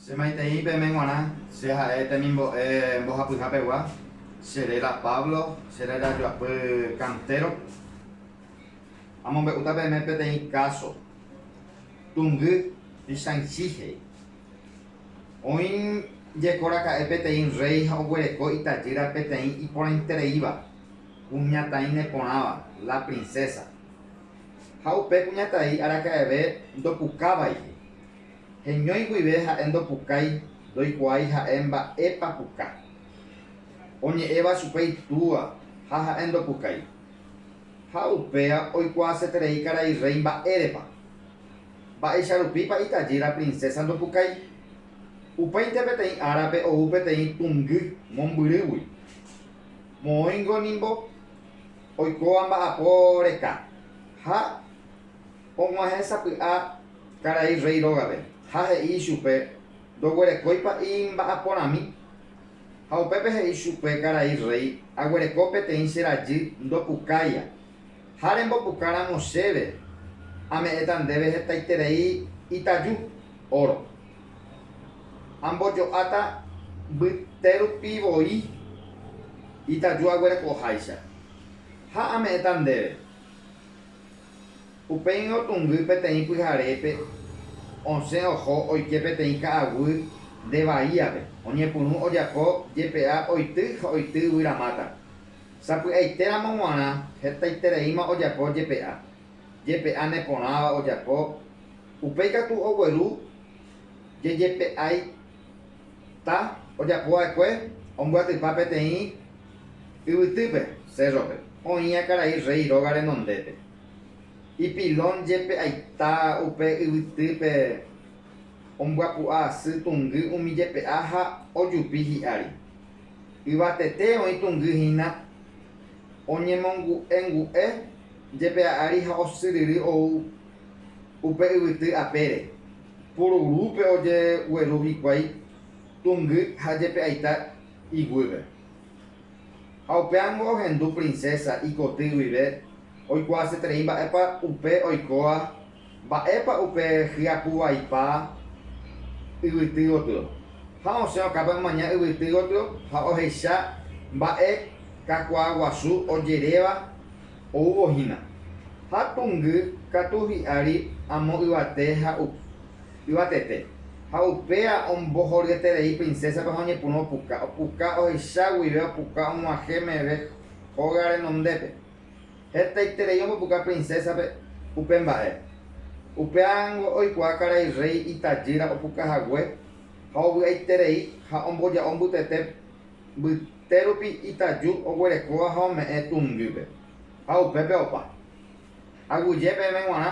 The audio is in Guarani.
Che maitei peme g̃uarã, che ha'e temimbo'e mbohapyha pegua, che réra Pablo, che réra joapy kantéro. Amombe'úta peme peteĩ káso, Tungy y Shang-Chi he'i. Oĩ jeko raka'e peteĩ rréi ha oguereko itajýra peteĩ iporãitereíva, kuñataĩ neporãva, la princesa. Ha upe kuñataĩ araka'eve ndopukávaihi. Heñói guive ha'e ndopukái, ndoikuaái ha'e mba'épa puka. Oñe'ẽva chupe itúa ha ha'e ndopukái. Ha upéva oikuaaseterei karai rréi mba'érepa. Mba'éicha rupípa itajýra prinsésa ndopukái? Upéinte peteĩ árape ou peteĩ tungy mombyrýgui. Moõingo nimbo oikóva mba'apo reka ha Og̃uahẽ sapy'a karai rréi rógape ha he'i ichupe, Ndoguerekói pa'i mba'aporãmi. Ha upépe he'i chupe karai rréi, Aguereko peteĩ che rajy ndopukáia, ha rembopuka ramo chéve ame'ẽta ndéve hetaiterei itaju, óro. Ambojo'áta mbyte rupi voi itaju aguerekoháicha, ha ame'ẽta ndéve. Upéi otungy peteĩ pyharépe osẽ oho oike peteĩ ka'aguy nde vaíape, oñepyrũ ojapo jepe'a oity ha oity yvyra máta. Sapy'aite ramo g̃uarã hetaitereíma ojapo jepe'a, jepe'a neporãva ojapo, upéi katu ogueru jejepe'ái. Ta ojapo va'ekue ombyatypa peteĩ yvytýpe, cérrope, oĩva karai rréi róga renondépe. Ipilón jepe aita upe yvytýpe ombyapu'a asy tungy umi jepe'a ha ojupi hi'ári. Yvatete oĩ tungy hína oñemongu'engu'e jepe'a ári ha osyryry ou upe yvyty apére. Pururúpe ojegueru hikuái tungy ha jepe'aita iguýpe. Ha upéango ohendu princesa ikoty guive oikuaaseterei mba'épa upe oikóva, mba'épa upe hyapuvaipa yvyty gotyo. Ha osẽ okápe omaña yvyty gotyo ha ohecha mba'e kakuaa guasu ojeréva. oúvo hína. Ha pungy katu hi'ári amo yvate ha yvatete, ha upéva ombohoryeterei princésape ha oñepyrũ opuka, opuka ohecha guive, opuka og̃uahẽ meve hóga renondépe. Hetaiterei ombopuka princésape upe mba'e. Upévango oikuaa karai rréi itajýra opuka hague ha ovy'aiterei ha omboja'o mbytete Mbytérupi itaju oguerekóva ha ome'ẽ tungýpe, ha upépe opa. Aguyje peẽme g̃uarã